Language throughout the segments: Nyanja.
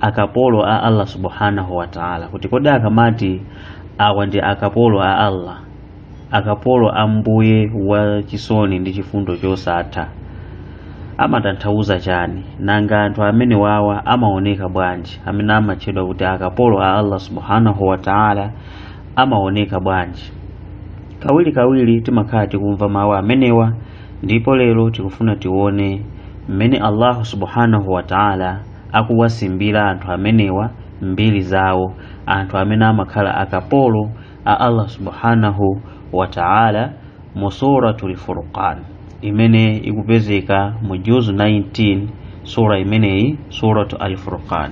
akapolo a Allah subhanahu wa ta'ala kuti kodi akamati awa ndi akapolo a Allah akapolo a mbuye wa chisoni ndi chifundo chosatha amatanthauza chani nanga anthu amene wawa amaoneka bwanji amene amatchedwa kuti akapolo a Allah subhanahu wa ta'ala amaoneka bwanji kawiri kawiri timakhala tikumva mawu amenewa ndipo lero tikufuna tione mmene Allah subhanahu wa ta'ala akuwasimbira anthu amenewa mbiri zawo anthu amene amakhala akapolo a Allah subhanahu wa ta'ala mu suratul furqan imene ikupezeka mu juzu 19 sura imeneyi suratu al-furqan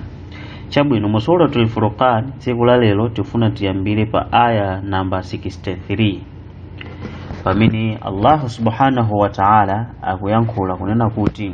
chabwino mu suratu al-furqan tsiku la lero tifuna tiyambire pa aya namba 63 pamene Allah subhanahu wa ta'ala akuyankhula kunena kuti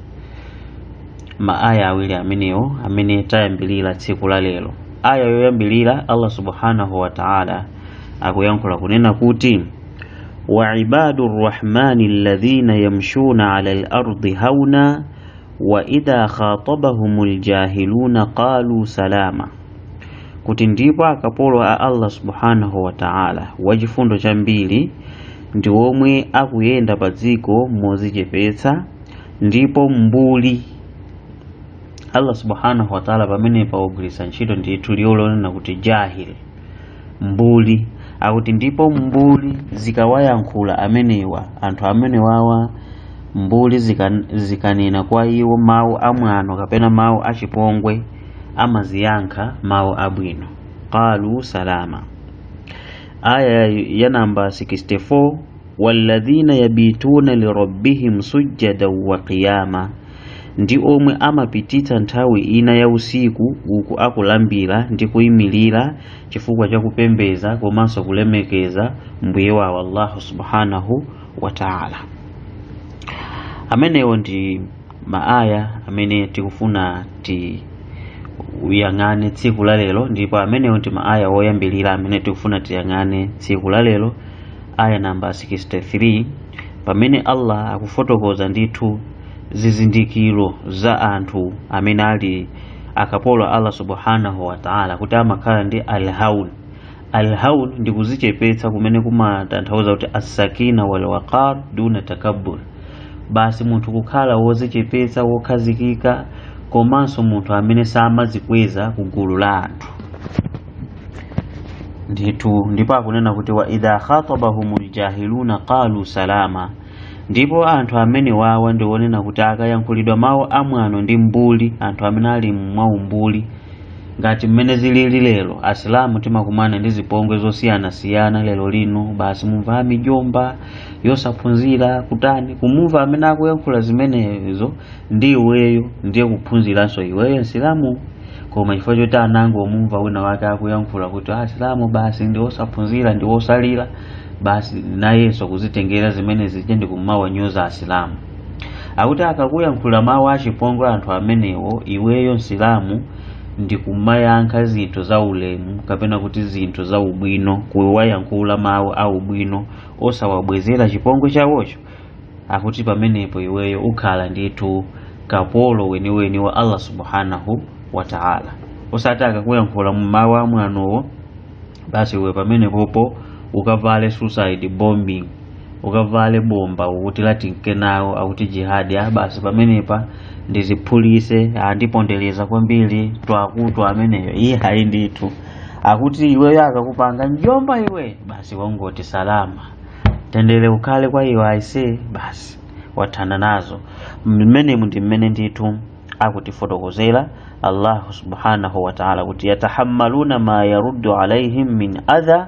ma aya awiri amenewo amene tayambirira tsiku la lero aya yoyambirira allah subhanahu wa ta'ala akuyankhula kunena kuti wa ibadu rrahmani alladhina yamshuna ala lardi hauna wa idha khatabahum ljahiluna qalu salama kuti ndipo akapolo a allah subhanahu wa ta'ala wachifundo chambiri ndi omwe akuyenda pa dziko mozichepetsa ndipo mbuli allah subhanahu wataala pamenepa ugwiritsa ntchito ndithu liwu lonena kuti jahil mbuli akuti ndipo mbuli zikawayankhula amenewa anthu amenewawa mbuli zikanena kwa iwo mawu amwano kapena mawu achipongwe amaziyankha mawu abwino qalu salama aya ya namba 64 walladhina yabituna lirabbihim sujjadan wa qiyama ndi omwe amapititsa nthawi ina ya usiku uku akulambira ndi kuyimirira chifukwa cha kupembedza komanso kulemekeza mbuye wawo allahu subhanahu wa taala amenewo ndi maaya amene tikufuna ti uyang'ane tsiku la lero ndipo amenewo ndi maaya woyambirira amene tikufuna tiyang'ane tsiku la lero aya namba 63 pamene allah akufotokoza ndithu zizindikiro za anthu amene ali akapolo a allah subhanahu wataala kuti amakhala ndi alhaun alhaun ndi kuzichepetsa kumene kumatanthauza kuti assakina wal waqar duna takabbur basi munthu kukhala wozichepetsa wokhazikika komanso munthu amene samazikweza ku gulu la anthu ndithu ndipo akunena kuti wa idha khatabahum ljahiluna qalu salama ndipo anthu amene wawa ndi onena kuti akayankhulidwa mawu amwano ndi mbuli anthu amene ali mwaumbuli ngati mmene zilili lero asilamu timakumana ndi zipongwe zosiyanasiyana lero lino basi mumva amijomba osaphunzira kutani kumumva amene akuyankhula zimenezo ndi iweyo ndiwe ophunziranso iweyo msilamu koma chifukwa choti anango mumva wina wake akuyankhula kuti asilamu basi ndi osaphunzira ndi osalira basi nayenso kuzitengera zimene zija ndikumawanyoza asilamu akuti akakuyankhula mawu achipongwe anthu amenewo iweyo msilamu ndikumayankha zinthu za ulemu kapena kuti zinthu za ubwino kuwayankhula mawu a ubwino osawabwezera chipongwe chawocho akuti pamenepo iweyo ukhala ndithu kapolo weniweni wa allah subhanahu wa taala osati akakuyankhula mmawu amwanowo basi iwe pamenepopo ukavale suicide bombing ukavale bomba ukuti latinka nawo akuti jihadi ah basi pamenepa ndiziphulise andipondereza kwambiri twakutu ameneyo iyayi ndithu akuti iweyo akakupanga mjomba iwe basi wangoti salama mtendere ukhale kwa iwe aise basi wathana nazo mmenemo ndi mmene ndithu akutifotokozera allahu subhanahu wataala kuti yatahammaluna ma yaruddu alaihim min adha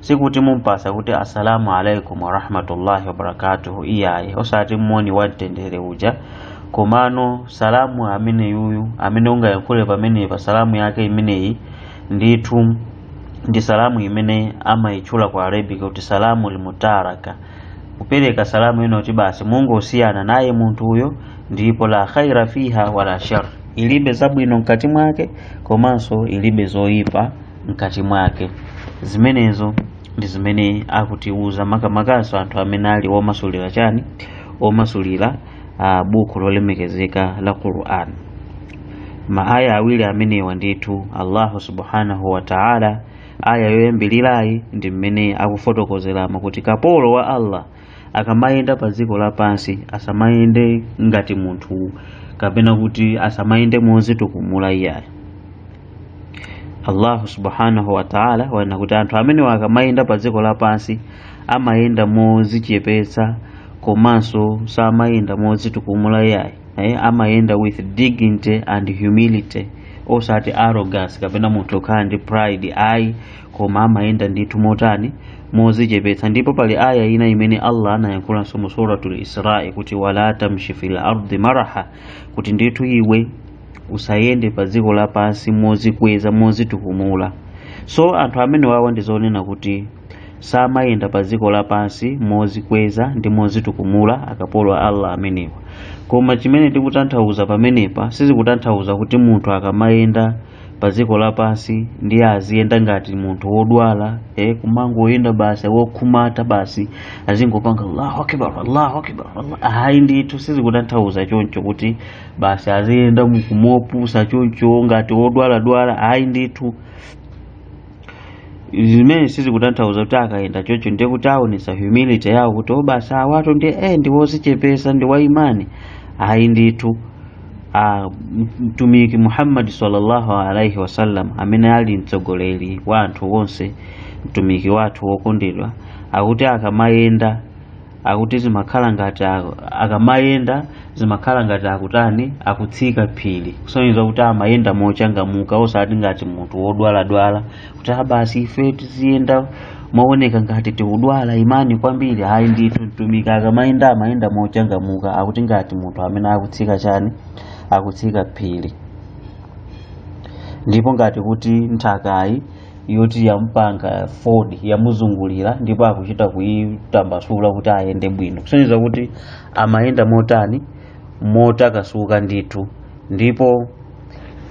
sikuti mumpatsa kuti assalamu alaikum warahmatullahi wabarakatuhu iyayi osati moni wa mtendere uja komano salamu amene yuyu amene ungayankhule pamenepa salamu yake imeneyi ndithu ndi salamu imene amayitchula ku arabic kuti salamul mutaraka kupereka salamu yoti basi mungosiyana naye munthuyo ndipo la khaira fiha wala shar ilibe zabwino mkati mwake komanso ilibe zoyipa mkati mwake zimenezo ndi zimene akutiuza makamakanso anthu amene ali omasulira chani omasulira uh, buku lolemekezeka la Qur'an maaya awiri amenewa ndithu Allahu subhanahu wa ta'ala aya yoyambirirayi ndi mmene akufotokozeramo kuti kapolo wa Allah akamayenda pa dziko lapansi asamayende ngati munthu kapena kuti asamayende mozitukumula iyayi allahu subhanahu wataala wanena kuti anthu amenewa akamayenda pa dziko lapansi amayenda mozichepetsa komanso samayenda mozitukumula iyayi eh, amayenda with dignity and humility osati arrogance kapena munthu wokhala ndi pride ayi koma amayenda ndithu motani mozichepetsa ndipo pali aya ina imene allah anayankhulanso mu suratul isra kuti wala tamshi fil ardi maraha kuti ndithu iwe usayende pa dziko lapansi mozikweza mozitukumula so anthu amene wawa ndi zonena kuti samayenda pa dziko lapansi mozikweza ndi mozitukumula akapolo a allah amenewa koma chimene tikutanthauza pamenepa sizikutanthauza kuti munthu akamayenda pa dziko lapansi ndiye aziyenda ngati munthu wodwala eh, kumangoyenda basi wokhumata basi azingopanga allahu akbar allahu akbar ayi ndithu sizikutanthauza choncho kuti basi aziyenda mukumopusa choncho ngati wodwaladwala ayi ndithu zimene sizikutanthauza kuti akayenda chocho ndiye kuti aonesa humility yawo kuti o basi awatu ndi eh ndi wozichepesa ndi wa imani ayi ndithu a mtumiki Muhammad sallallahu alaihi wasallam amene ali mtsogoleri wa anthu onse mtumiki wathu wokondedwa akuti akamayenda akuti zimakhala ngati akamayenda zimakhala ngati akutani akutsika phiri kusonyeza kuti amayenda mochangamuka osati ngati munthu wodwaladwala kuti a basi ife tiziyenda mooneka ngati tikudwala imani kwambiri ayi ndithu mtumiki akamayenda amayenda mochangamuka akuti ngati munthu amene akutsika chani akutsika phiri ndipo ngati kuti nthakayi yoti yamupanga fold yamuzungulira ndipo akuchita kuyitambasula kuti ayende bwino kusonyeza kuti amayenda motani motakasuka ndithu ndipo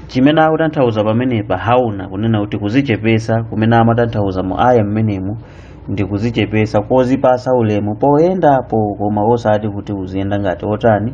chimene akutanthauza pamenepa hauna kunena kuti kuzichepesa kumene amatanthauza mu aya mmenemu ndi kuzichepesa kozipasa ulemu poyendapo koma osati kuti uziyenda ngati otani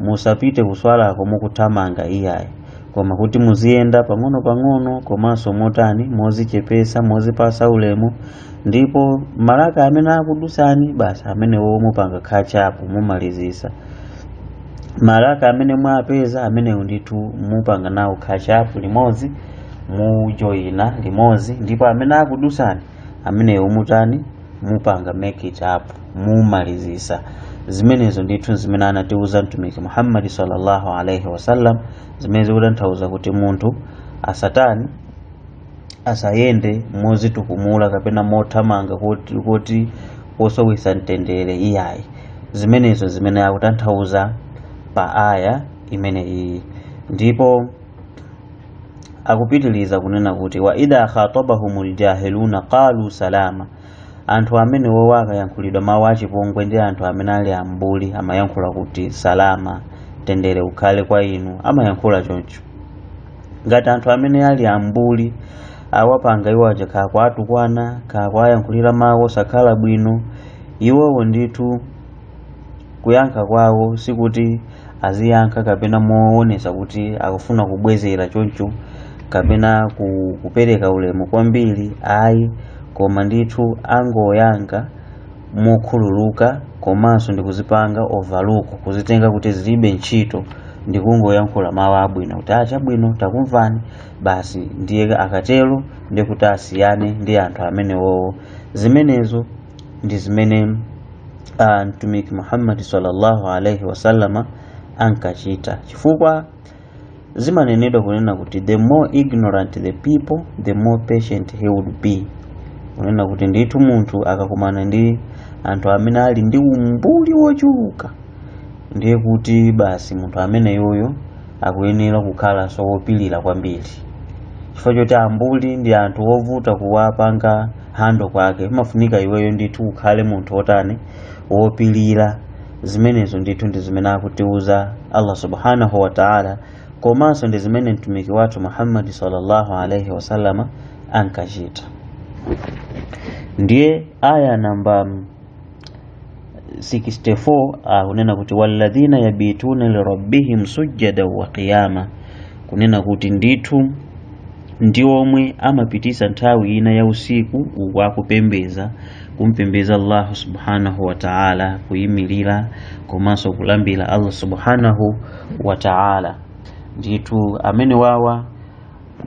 musapite kuswalako mukuthamanga iyayi koma kuti muziyenda pang'ono-pang'ono komanso motani mozichepesa mozipasa ulemu ndipo maraka amene akudusani basi amenewo mupanga catch up mumalizisa maraka amene mwapeza amenewo ndithu mupanga nawo catch up limodzi mujoyina limodzi ndipo amene akudusani amenewo mutani mupanga make it up mumalizisa zimenezo ndithu zimene anatiuza mtumiki muhammadi sallallahu alaihi wasallam zimene zikutanthauza kuti munthu asatani asayende mozitukumula kapena mothamanga koti kosowesa mtendere iyayi zimenezo zimene akutanthauza pa aya imene iyi ndipo akupitiliza kunena kuti wa idha khatabahumul jahiluna qalu salama anthu amene wowo akayankhulidwa mawu achipongwe ndi anthu amene ali ambuli amayankhula kuti salama mtendere ukhale kwa inu amayankhula choncho ngati anthu amene ali ambuli awapanga iwo aja kaya kuwatukwana kaya kuwayankhulira mawu osakhala bwino iwowo ndithu Kuyankha kwawo sikuti aziyankha kapena moonetsa kuti akufuna kubwezera choncho kapena ku- kupereka ulemu kwambiri ayi koma ndithu angoyankha mokhululuka komanso ndikuzipanga overlook kuzitenga kuti zilibe ntchito ndikungoyankhula mawu abwino kuti ah chabwino takumvani basi ndiye akatero ndikuti asiyane ndi anthu amenewowo zimenezo ndi zimene ah, mtumiki muhammadi sallallahu alaihi wasallama ankachita chifukwa zimanenedwa kunena kuti the more ignorant the people the more patient he would be kunena kuti ndithu munthu akakumana ndi anthu amene ali ndi umbuli wochuluka ndiye kuti basi munthu ameneyoyo akuyenera kukhalanso wopilira kwambiri chifukwa choti ambuli ndi anthu ovuta kuwapanga handle kwake imafunika iweyo ndithu ukhale munthu wotani wopilira zimenezo ndithu ndi zimene akutiuza allah subhanahu wa taala komanso ndi zimene mtumiki wathu muhammadi sallallahu alaihi wasallama ankachita ndiye aya namba 64 akunena kuti walladhina yabituna lirabbihim sujjada wa qiyama kunena kuti ndithu ndi omwe amapititsa nthawi ina ya usiku uku akupembeza kumpembeza allahu subhanahu wa taala kuyimirira komanso kulambira allah subhanahu wa taala ndithu amene wawa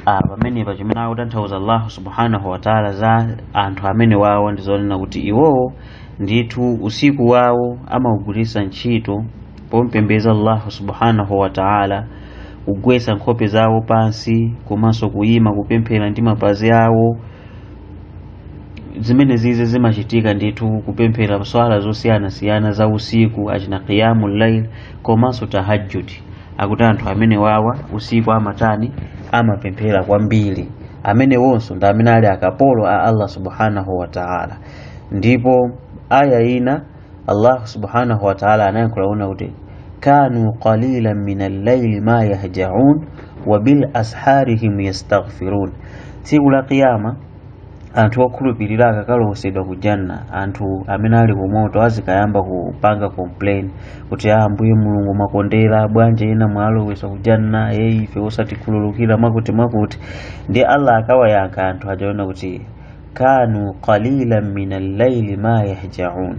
Ah, pamenepa chimene akutanthauza allahu subhanahu wataala za anthu amene wawo ndi zonena kuti iwowo ndithu usiku wawo amaugwiritsa ntchito pompembeza allahu subhanahu wataala kugwetsa nkhope zawo pansi komanso kuyima kupemphera ndi mapazi awo zimene zizi zimachitika ndithu kupemphera swala zosiyanasiyana za usiku achina qiyamu llail komanso tahajjudi akuti anthu amene wawa usiku amatani amapemphera kwambiri amene wonso ndi amene ali akapolo a Allah subhanahu wa ta'ala ndipo aya ina Allah subhanahu wa ta'ala anayankhula kunena kuti kanu qalilan min al-layli ma yahja'un wa bil asharihim yastaghfirun tsiku la kiyama anthu okhulupirira akakalowetsedwa ku janna anthu amene ali ku moto azikayamba kupanga complain kuti a ambuye mulungu mwakondera bwanji ena mwalowetsa ku janna e ife osatikhululukira mwakuti mwakuti ndi allah akawayankha anthu aja kunena kuti kanu qalilan min al-laili ma yahjaun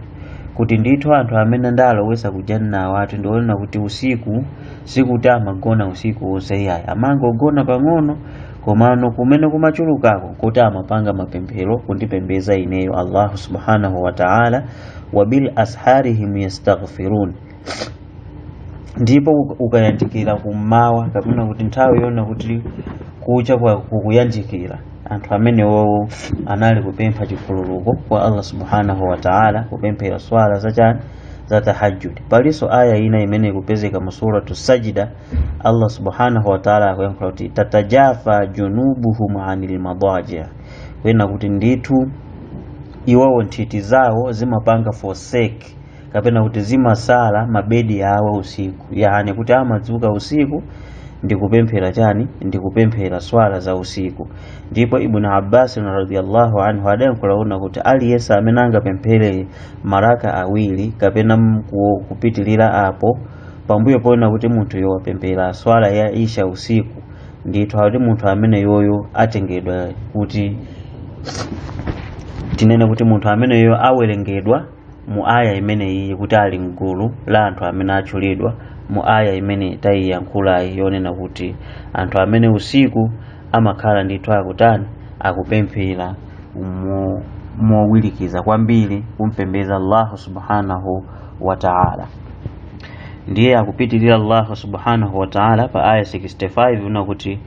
kuti ndithu anthu amene ndalowetsa ku janna awatu ndinkaona kuti usiku sikuti amagona usiku wonse iyayi amagona pang'ono komano kumene kumachulukako kuti amapanga mapemphero kundipembeza ineyo allahu subhanahu wa taala wa bil asharihim yastaghfirun ndipo uka- ukayandikira kummawa kapena kuti nthawi yonena kuti kucha kukuyandikira anthu amenewowo anali kupempha chikhululuko kwa allah subhanahu wa taala kupemphera swala zachani za tahajjud palinso aya ina imene ikupezeka mu suratu sajida Allah subhanahu wa ta'ala akuyankhula kuti tatajafa junubuhum anil madaji kunena kuti ndithu iwowo nthiti zawo zimapanga forsake kapena kuti zimasala mabedi awo usiku yani kuti amadzuka usiku ndikupemphera chani ndikupemphera swala za usiku ndipo ibn abbas radhiyallahu anhu adayankhula kunena kuti aliyense amene angapemphere maraka awiri kapena mku- kupitirira apo pambuyo ponena kuti munthuyo wapemphera swala ya isha usiku ndithu akuti munthu ameneyoyo atengedwa kuti tinene kuti munthu ameneyoyo awerengedwa mu aya imeneyi kuti ali mgulu la anthu amene atchulidwa mu aya imene tayiyankhulayi yonena kuti anthu amene usiku amakhala ndithu akutani akupemphera mo- mowirikiza kwambiri kumpembeza allahu subhanahu wa taala ndiye akupitirira allahu subhanahu wataala pa aya 65 una kuti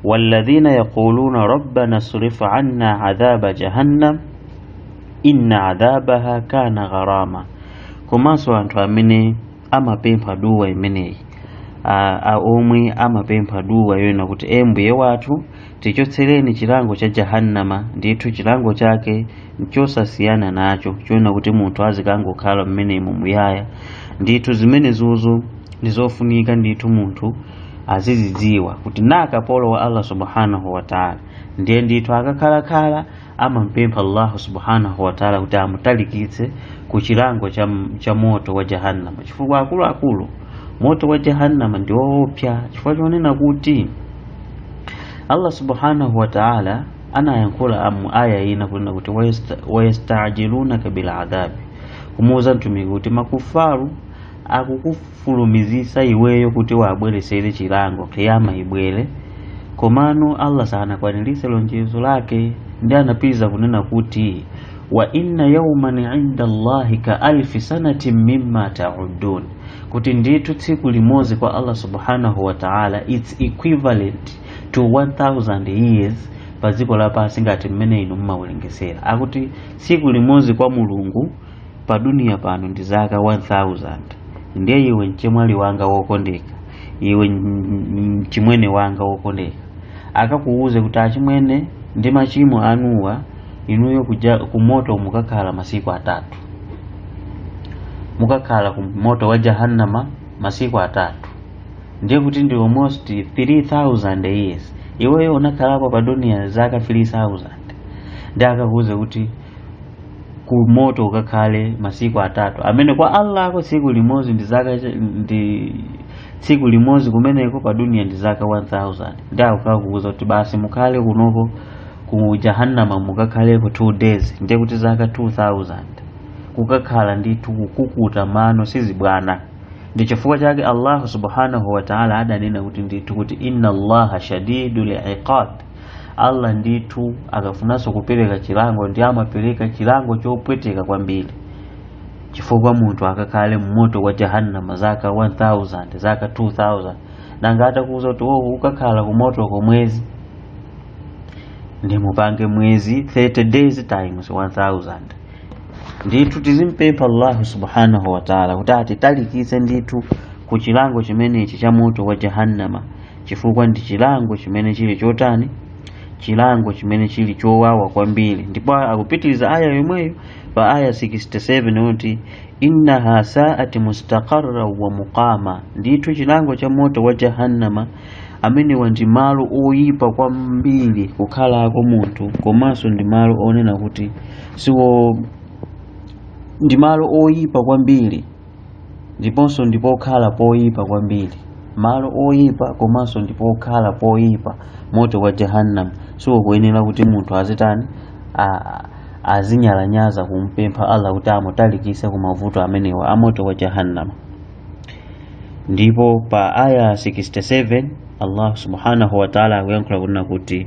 walladhina yaquluna rabbana srif anna adhaba jahannam inna adhabaha kana gharama komanso anthu amene amapempha duwa imeneyi a- a- omwe amapempha duwa yoyena kuti e mbuye wathu tichotsereni chilango cha jahannama ndithu chilango chake nchosasiyana nacho chonena kuti munthu azikangokhala mmenemo muyaya ndithu zimenezozo ndi zofunika ndithu munthu azizidziwa kuti kapolo wa allah subhanahu wataala ndiye ndithu akakhalakhala amampempha allahu subhanahu wataala kuti amutalikitse ku chilango cha, cha moto wa jahannama chifukwa akuluakulu moto wa jahannama ndi woopsa chifukwa chonena kuti allah subhanahu wataala anayankhula mu aya ina kunena kuti wayastajilunaka biladhabi kumuuza mtumiki kuti makufaru akukufulumizisa iweyo kuti uwabweresere chilango kiyama ibwere komano allah sanakwanilise lonjezo lake ndi anapitiriza kunena kuti wa inna yauman inda allahi ka alfi sanatin mimma taudun kuti ndithu tsiku limodzi kwa allah subhanahu wa taala its equivalent to 1000 years pa dziko lapansi ngati mmene inu mmawerengesera akuti tsiku limodzi kwa mulungu pa duniya pano ndi zaka 1000 ndiye iwe mchemwali wanga wokondeka iwe mchimwene wanga wokondeka akakuwuze kuti achimwene ndi machimo anuwa inuyo kuja kumoto mukakhala masiku atatu mukakhala ku moto wa jahannama masiku atatu ndiye kuti ndi almost 3000 years iweyo unakhalapo pa duniya zaka 3000 ndi akakuwuze kuti ku moto ukakhale masiku atatu amene kwa Allahko tsiku limodzi ndi zaka cha- ndi tsiku limodzi kumeneko pa duniya ndi zaka 1000 ndiye akakuuza kuti basi mukhale kunoko ku jahannama mukakhaleko 2 days ndiye kuti zaka 2000 kukakhala ndithu kukukuta mano sizibwana ndi chifukwa chake allahu subhanahu wa taala adanena kuti ndithu kuti inna allaha shadidul iqab allah ndithu akafunanso kupereka chilango ndi amapereka chilango chopweteka kwambiri chifukwa munthu akakhale mmoto wa jahannama zaka 1000 zaka 2000 nanga atakuuza kuti wowo ukakhala kumoto kwa mwezi ndi mupange mwezi 30 days times 1000 ndithu tizimpempha allahu subhanahu wataala kuti atitalikitse ndithu ku chilango chimenechi cha moto wa jahannama chifukwa ndi chilango chimene chili chotani chilango chimene chili chowawa kwambiri ndipo akupitiriza aya yomweyo pa aya 67 kuti innaha saati mustaqarra wa muqama ndithu chilango cha moto wa jahannama amenewa ndi malo oyipa kwambiri kukhalako munthu komanso ndi malo onena kuti siwo ndi malo oyipa kwambiri ndiponso ndi pokhala poyipa kwambiri malo oyipa komanso ndi pokhala poyipa moto wa jahannam siwokuyenera kuti munthu azitani a- azinyalanyaza kumpempha allah kuti amutalikise ku mavuto amenewa a moto wa jahannama ndipo pa aya 67 allah subhanahu wa taala akuyankhula kunena kuti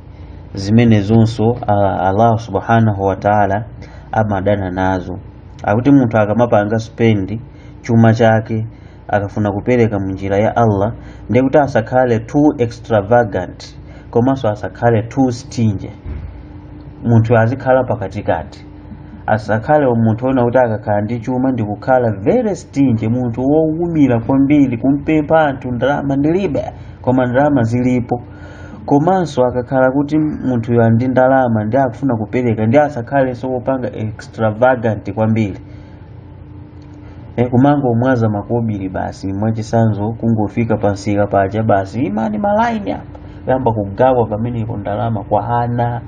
zimenezonso a- allah subhanahu wataala amadana nazo akuti munthu akamapanga spend chuma chake akafuna kupereka mu njira ya allah ndiye kuti asakhale too extravagant komanso asakhale too stingy munthu azikhala pakatikati asakhale munthu onena kuti akakhala ndi chuma ndi kukhala very stingy munthu wowumira kwambiri kumpempha anthu ndalama ndilibe koma ndalama zilipo komanso akakhala kuti munthuyo ali ndi ndalama ndi akufuna kupereka ndi asakhalenso wopanga extravagant kwambiri e, kumangomwaza makobiri basi mwachisanzo kungofika pansika paja basi imani malaini apa yamba kugawa pamenepo ndalama kwa ana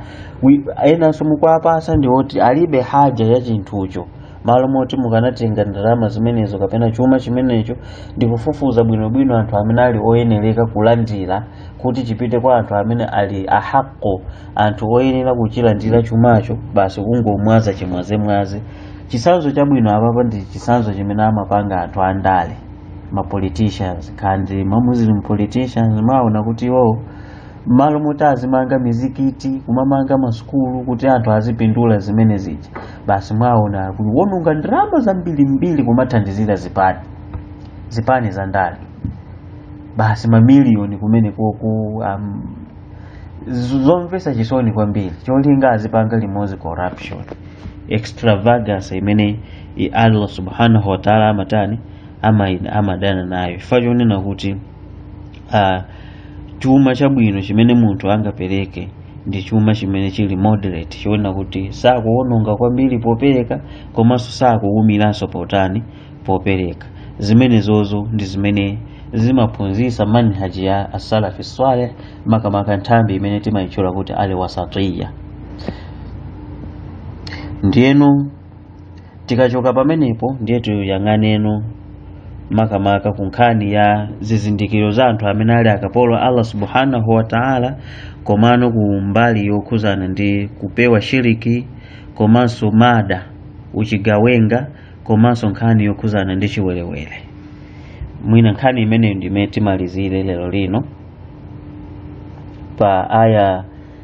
Wi- enanso mukuwapasa ndi oti alibe haja ya chinthucho malo moti mukanatenga ndalama zimenezo kapena chuma chimenecho ndi kufufuza bwinobwino anthu amene ali oyenereka kulandira kuti chipite kwa anthu amene ali ahaqo anthu oyenera kuchilandira chumacho basi kungomwaza chimwazemwaze chisanzo chabwino apapa ndi chisanzo chimene amapanga anthu andale ma politicians kaya ndi ma muslim politicians mumaona kuti iwowo mmalo moti azimanga mizikiti kumamanga masukulu kuti anthu azipindula zimene zija basi mwaona kuononga ndalama zambirimbiri kumathandizira zipani zipani za ndale basi mamiliyoni kumeneko ku um, z- zomvesa chisoni kwambiri cholinga azipanga limodzi corruption extravagance imene i- allah subhanahu wataala amatani ama- amadana nayo chifukwa chonena kuti uh, chuma chabwino chimene munthu angapereke ndi chuma chimene chili moderate choona kuti sakuwononga kwambiri popereka komanso sakuwumiranso potani popereka zimenezozo ndi zimene zimaphunzitsa manhaji ya asalafi swaleh makamaka nthambi imene timayitchula kuti al wasatiya ndiyeno tikachoka pamenepo ndiye tiyang'aneno makamaka ku nkhani ya zizindikiro za anthu amene ali akapolo a allah subhanahu wa taala komano ku mbali yokhuzana ndi kupewa shiriki komanso mada uchigawenga komanso nkhani yokhuzana ndi chiwerewere mwina nkhani imeneyo ndimene timalizire lero lino pa aya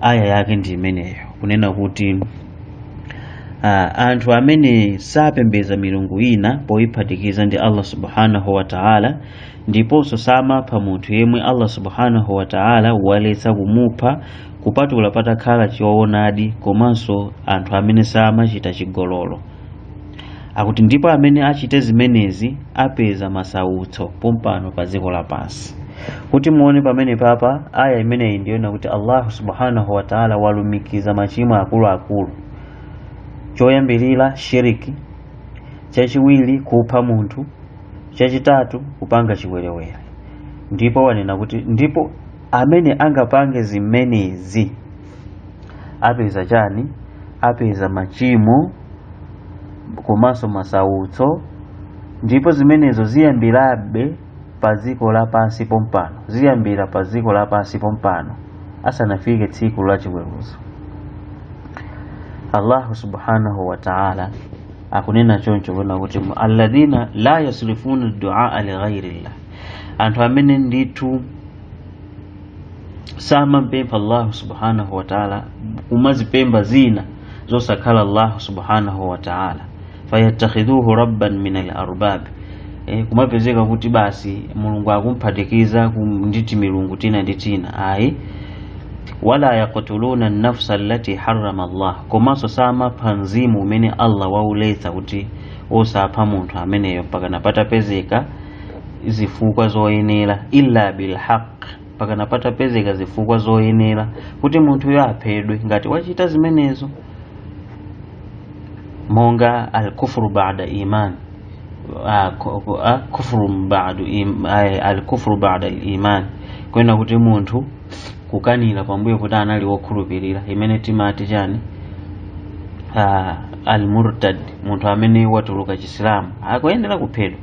aya yake ndi imeneyo kunena kuti ah, anthu amene sapembedza milungu ina poyiphatikiza ndi allah subhanahu wa taala ndiponso samapha munthu yemwe allah subhanahu wa taala waletsa kumupha kupatula patakhala choonadi komanso anthu amene samachita chigololo akuti ndipo amene achite zimenezi apeza masautso pompano pa dziko lapansi kuti muone pamenepa pa aya imeneyi ndiye muona kuti allahu subhanahu wa taala walumikiza machimo akuluakulu choyambirira shiriki chachiwiri kupha munthu chachitatu kupanga chiwerewere ndipo wanena kuti ndipo amene angapange zimenezi apeza chani apeza machimo komanso masautso ndipo zimenezo ziyambirabe pa dziko lapansi pompano ziyambira pa dziko lapansi pompano asanafike tsiku la chiweruzo allahu subhanahu wa taala akunena choncho kunena kuti mu- alladhina la yasrifuna duaa lighairillah anthu amene ndithu samampempha allahu subhanahu wataala kumazipemba zina zosakhala allahu subhanahu wataala fayattakhidhuhu rabban min alarbabi e, kumapezeka kuti basi mulungu akumphatikiza ndi timilungu tina ndi tina ayi wala yaktuluna nafsa allati harrama allah komanso samapha mzimu umene allah wauletsa kuti osapha munthu ameneyo mpakana patapezeka zifukwa zoyenera illa bilhaq mpakana patapezeka zifukwa zoyenera kuti munthuyo aphedwe ngati wachita zimenezo monga alkufru bada iman alkufru bada aliman kunena kuti munthu kukanira pambuyo kuti anali wokhulupirira imene timati chani ah, almurtad munthu amene watuluka chisilamu akuyenera kuphedwa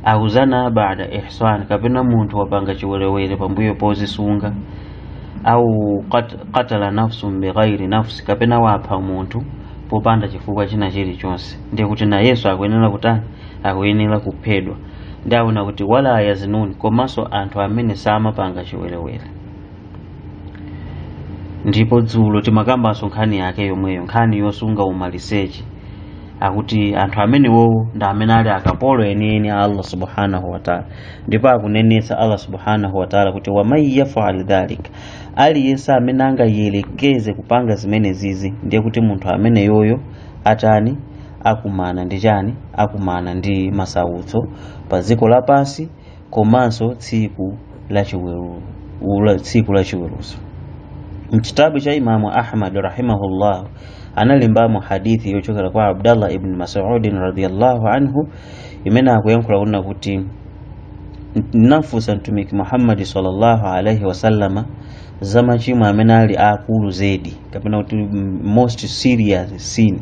au zana bada ihsan kapena munthu wapanga chiwerewere pambuyo pozisunga au qatala nafsun bighairi nafsi kapena wapha munthu popanda chifukwa china chilichonse ndiye kuti nayenso akuyenera kutani akuyenera kuphedwa ndiye akunena kuti wala yazinuni komanso anthu amene samapanga chiwerewere ndipo dzulo timakambanso nkhani yake yomweyo nkhani yosunga umaliseche akuti anthu amenewowo ndi amene ali akapolo enieni a allah subhanahu wataala ndipo akunenetsa allah subhanahu wataala kuti waman yafal dhalika aliyense amene angayelekeze kupanga zimenezizi ndiye kuti munthu ameneyoyo atani akumana ndi chani akumana ndi masautso pa dziko lapansi komanso tsiku la chiweruzo mchitabu cha imamu ahmad rahimahullah analembamo hadithi yochokera kwa abdallah ibn masudin radiallahu anhu imene akuyankhula kunena kuti ndinafunsa mtumiki muhammadi sallallahu alaihi wasallama za machimo amene ali akulu zedi kapena kuti most serious sin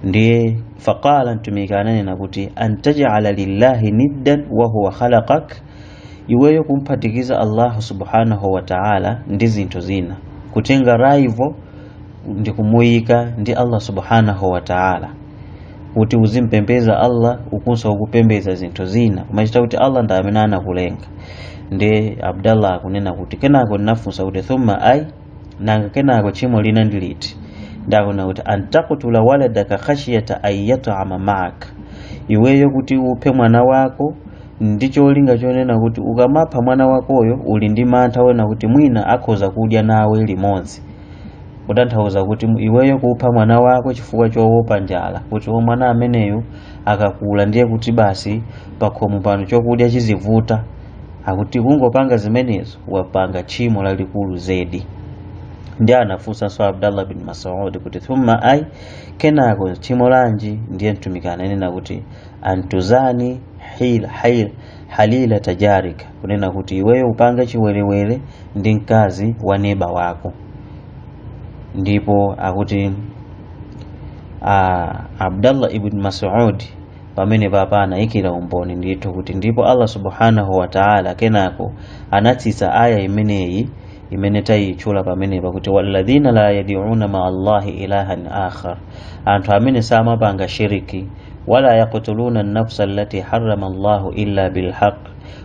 ndiye faqala mtumiki ananena kuti antajala lillahi niddan wa huwa khalaqak iweyo kumphatikiza allahu subhanahu wa ta'ala ndi zinthu zina kutenga rival ndi kumuyika ndi allah subhanahu wa ta'ala kuti uzimpembedza allah ukunso ukupembedza zinthu zina kumachita kuti allah ndi amene anakulenga ndi abdallah akunena kuti kenako ndinafunsa kuti thumma ai nanga kenako tchimo lina ndi liti ndiye akunena kuti antakutula waladaka khashiyata ayyatama maka iweyo kuti uphe mwana wako ndi cholinga chonena kuti ukamapha mwana wakoyo uli ndi mantha onena kuti mwina akhoza kudya nawe limodzi kutanthauza kuti iweyo kupha mwana wako chifukwa chowopa njala kuti o mwana ameneyo akakula ndiye kuti basi pakhomo pano chokudya chizivuta akuti kungopanga zimenezo wapanga tchimo lalikulu zedi ndiye anafunsanso abdallah bin masud kuti thumma ai kenako tchimo lanji ndiye mtumiki ananena kuti antuzani hil, hil, halila tajarika kunena kuti iweyo upange chiwerewere ndi mkazi wa neba wako ndipo akuti uh, abdallah ibn masud pamene papa anayikira umboni ndithu kuti ndipo allah subhanahu wa taala kenako anatsitsa aya imeneyi imene tayitchula pamenepa kuti walladhina la yadiuna maa allahi ilahan akhar anthu amene samapanga shiriki wala yaqtuluna nafsa allati harrama allahu illa bilhaq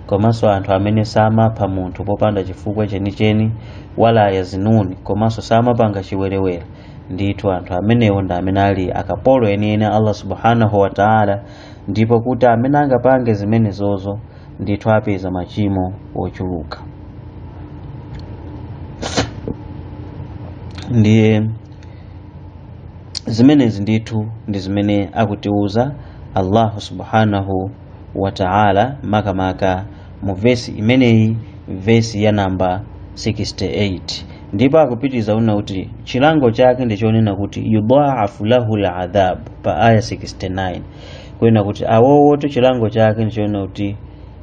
komanso anthu amene samapha munthu popanda chifukwa chenicheni wala yazinuni komanso samapanga chiwerewere ndithu anthu amenewo ndi amene ali akapolo enieni a allah subhanahu wa taala ndipo kuti amene angapange zimenezozo ndithu apeza machimo ochuluka ndiye zimenezi ndithu ndi zimene akutiuza allahu subhanahu wa taala makamaka mu vesi imeneyi vesi ya namba 68 ndipo akupitiriza kunena kuti chilango chake ndi chonena kuti yudhaafu lahu ladhabu pa aya 69 kunena kuti awowoto chilango chake ndi chonena kuti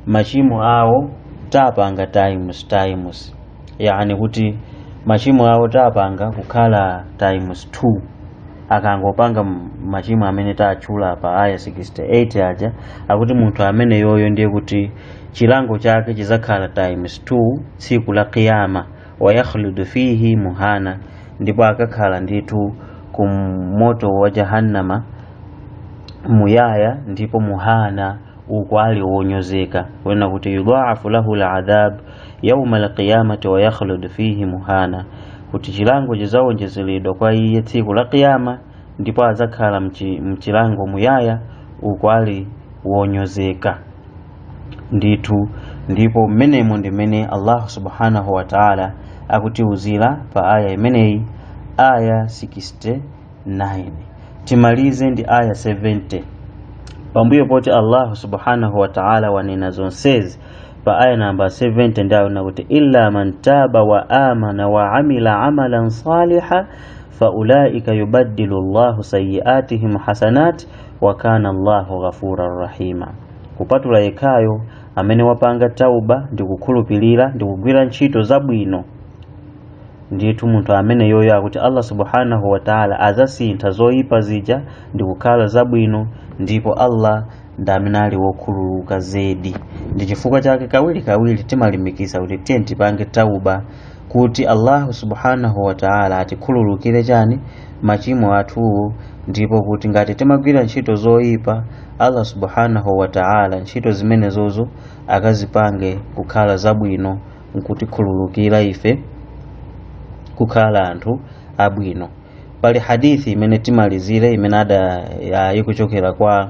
machimo awo tapanga times times yani kuti machimo awo tapanga kukhala times 2 akangopanga m- machimo amene tatchula pa aya 68 aja akuti munthu ameneyoyo ndiye kuti chilango chake chizakhala times 2 tsiku la qiyama wayakhludu fihi muhana ndipo akakhala ndithu ku moto wa jahannama muyaya ndipo muhana uku ali wonyozeka kunena kuti yudhaafu lahu ladhab yauma alqiyamati wayakhludu fihi muhana kuti chilango chizawonjezeredwa kwa iye tsiku la qiyama ndipo azakhala mchi- mchilango muyaya uku ali wonyozeka ndithu ndipo mmenemo ndi mmene allahu subhanahu wa taala akutiuzira pa aya imeneyi aya 69 timalize ndi aya 70 pambuyo poti allahu subhanahu wa taala wanena zonsezi pa aya namba 70 ndiye akunena kuti illa man taba wa amana wa amila amalan saliha faulaika yubaddilu llahu sayiatihim hasanat wa kana llahu ghafuran rahima kupatula yekhayo amene wapanga tauba ndi kukhulupirira ndi kugwira ntchito zabwino ndithu munthu ameneyoyo akuti allah subhanahu wataala azasintha zoyipa zija ndi kukhala zabwino ndipo allah ndi amene ali wokhululuka zedi ndi chifukwa chake kawiri kawiri timalimbikitsa kuti tiyeni tipange tauba kuti allahu subhanahu wataala atikhululukire chani machimo athuwo ndipo kuti ngati timagwira ntchito zoyipa allah subhanahu wataala ntchito zimenezozo akazipange kukhala zabwino nkutikhululukira ife kukhala anthu abwino pali hadithi imene timalizire imene ada ya- ikuchokera kwa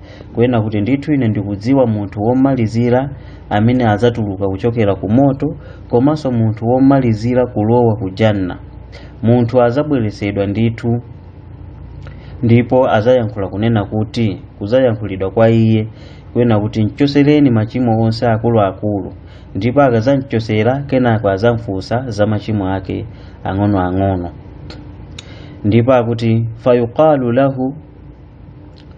kunena kuti ndithu ine ndikudziwa munthu womalizira amene adzatuluka kuchokera ku moto komanso munthu womalizira kulowa ku janna munthu adzabweretsedwa ndithu ndipo adzayankhula kunena kuti kudzayankhulidwa kwa iye kunena kuti mchosereni machimo onse akuluakulu ndipo akadzamchosera kenako adzamfunsa za machimo ake ang'onoang'ono ndipo akuti fayuqalu lahu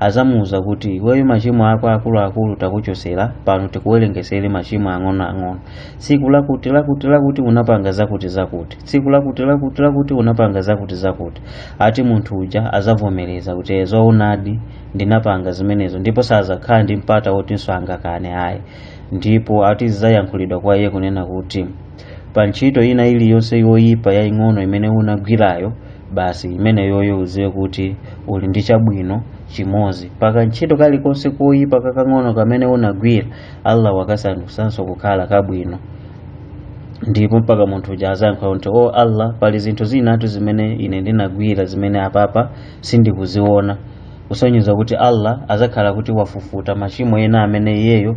azamuuza kuti iweyo machimo ako akuluakulu takuchosera pano tikuwerengesere machimo ang'onoang'ono tsiku lakuti lakuti lakuti unapanga zakuti zakuti tsiku lakuti lakuti lakuti unapanga zakuti zakuti ati munthu uja azavomereza kuti eh zoonadi ndinapanga zimenezo ndipo sazakhala ndi mpata wotinso angakane ayi ndipo ati zizayankhulidwa kwa iye kunena kuti pa ntchito ina iliyonse yoyipa yaying'ono imene unagwirayo basi imeneyoyo uziwe kuti uli ndi chabwino chimodzi paka ntchito kalikonse koyipa kakang'ono kamene unagwira allah wakasandusanso kukhala kabwino ndipo mpaka munthu uja azayankha kuti o allah pali zinthu zinatu zimene ine ndinagwira zimene apapa sindikuziona kusonyeza kuti allah azakhala kuti wafufuta machimo ena amene iyeyo